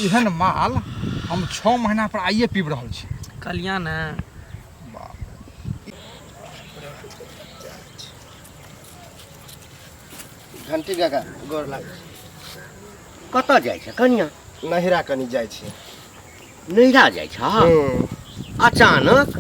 एहन माल हम छओ महीना पर आइए पीब रहल छी कलिया ने घंटी काका गोर लाग कतऽ जाइ छै कनिया नहिरा कनी जाइ छै नैहरा जाइ छ हूँ अचानक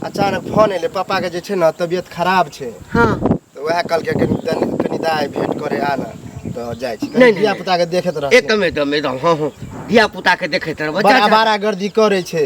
अचानक फोन एलै पापाके जे छै ने तबियत खराब छै हाँ तऽ उएह कहलकै कनि तनि- कनि दाइ भेंट करे आ ने तऽ जाइ छी नहि, नहि, धिया नहि। पुताके देखैत रहथिन एकदम एकदम एकदम हाँ हाँ धिया पुता के देखैत रहब बड़ा बड़ा गर्दी करै छै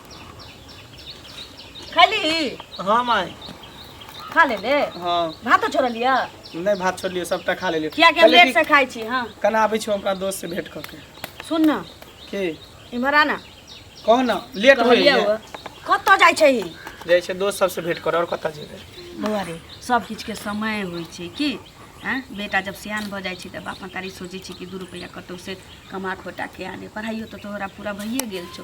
खाली हाँ माई खा ले ले हाँ भातो छोड़ लिया नहीं भात छोड़ लियो सबटा खा लेलियो किया कि हम लेट से खाई छी हाँ कल आबै छी हमरा दोस्त से भेंट करके सुन ना के इम्हर आना कहो ना लेट हो कहलिया हुआ कतऽ जाइ छै ई? जाइ छै दोस्त सबसे भेंट कर और कतऽ जेबै बौआ रे सब किछु के समय होइ छै की आँ बेटा जब सियान भऽ जाइ छै तऽ बाप मतारी सोचै छै कि दू रुपैआ कतौ से कमा खोटा के आने पढ़ाइयो तऽ तोहरा पूरा भइए गेल छौ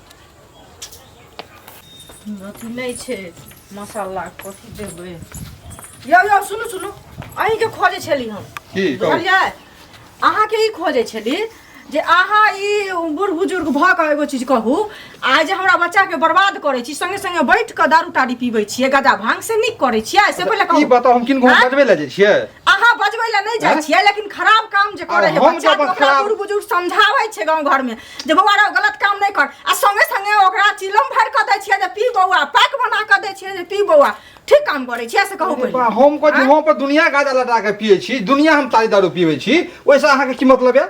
अथी नहीं छे मसाला कथी देबे यो यो सुनू सुनू अहीं के खोजे छली हम की कहू बुझलियै अहाँ के ई खोजे छली जे अहाँ ई बूढ़ बुजुर्ग भऽ कऽ एगो चीज कहू आ जे हमरा बच्चा के बर्बाद करै छी संगे संगे बैठ कऽ दारू तारी पीबै छियै गदा भांग से नीक करै छियै से पहिले ई कहू बताओ हम किनको हाँ? बजबे ले जाइ छियै अहाँ बजबै लए नहि जाइ हैं? छियै लेकिन खराब काम जे करे आब छै हम बच्चा जब के ओकरा खराब- बूढ़ बुजुर्ग समझाबै छै गांव घर में जे बौआ रौ गलत काम नहि कर आ संगे संगे ओकरा चिलम भर क दै छियै जे पी बौआ पैक बना क दै छियै जे पी बौआ ठीक काम करे छियै से कहू अरे पहिले। बा, हम को आँय? हम पर दुनिया गादा लटा के पिए छी दुनिया हम तारी दारू पीबै छी ओइसे अहाँके की मतलब यऽ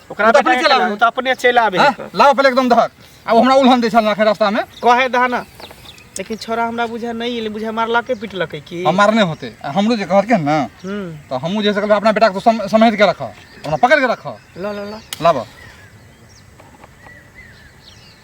ओकरा ओ तऽ अपने बेटा चलि के आबे। ओ तऽ अपने चलि आबे हैं? है। लाओ पहले एकदम धर आ ओ हमरा उल्हन दै छल ना रास्ता में कहे दह ना लेकिन छोरा हमरा बुझा नहीं एले बुझा मारलके पिटलके की हम मारने होते आ हमरो जे कहलके ना हम्म तो हमू जे सकल अपना बेटा को सम, समझ के रख हमरा पकड़ के रख ला ला ला लाबो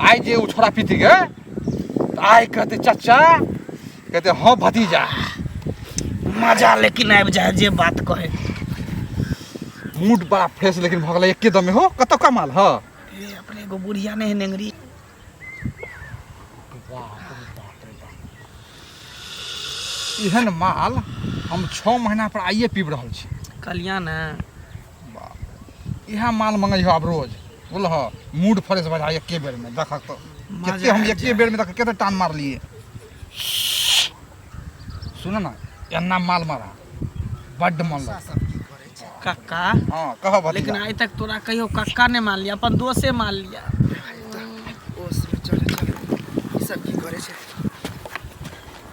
आइ जे ओ छोड़ा पीती गे तऽ आइ कहते चाचा कहते हँ भतीजा मजा लेकिन आबि जाए जे बात कहे मूड बड़ा फ्रेश लेकिन भऽ गेलै एके दमे हो कतौ कमाल हँ अपने एगो बुढ़िया नहि है नेंगरी एहन माल हम छओ महीना पर आइए पीब रहल छी कल्याण बाप रे इएह माल मँगैह आब रोज बुझलह मूड फ्रेश भऽ जाइ एके बेरमे देखक तऽ कते हम एके बेरमे देखक कते टान मारलियै सुन ने एना माल मारा बड्ड मन लगता कक्का हँ कह भतीजा लेकिन आइ तक तोरा कहियो कक्का नहि मान लिया अपन दोसे मान लिया ओ चल चल ई सब की करे छै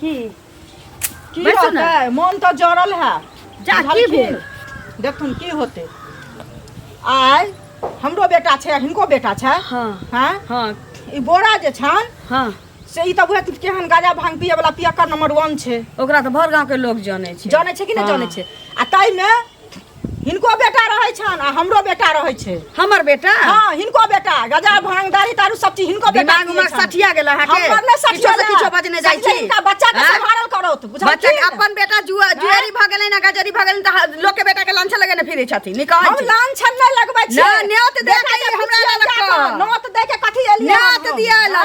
की की बैठू ने। होतै मोन तऽ जड़ल है जा की भेल देखथुन की होतै आइ हमरो बेटा छै हिनको बेटा छै हाँ हैं हाँ ई बोरा जे छनि हाँ से ई तऽ उहे केहन गाजा भांग पिए वाला पियक्कर नंबर वन छै ओकरा तऽ भर गाँव के लोग जाने छै जानै छै कि नहि हाँ। जानै छै आ ताहिमे हिनको बेटा रहै छन आ हमरो बेटा रहै छै हमर बेटा हां हिनको बेटा गजा भांग दारी तारू सब चीज हिनको बेटा दिमाग में सठिया गेल अहाँ के हमर ने सठिया गेल किछो बजने जाइ छी इनका बच्चा के संभारल करो तू बुझल बच्चा अपन बेटा जुआ जुएरी भ गेलै ना गजरी भ गेलै त लोग के बेटा के लांछा लगेने फिरै छथि नि कहै हम लांछा नै लगबै छी ना नेत दे के हमरा लग नेत दे के कथि एलियै नेत दिया ना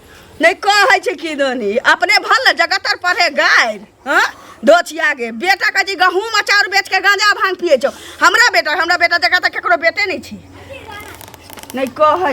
नहीं कहे छे की दनी अपने भल न जगतर पढ़े गाय हां दोछिया गे बेटा का जी गहूम अचार बेच के गांजा भांग पिए छो हमरा बेटा हमरा बेटा जगह त केकरो बेटे नहीं छी नहीं कहे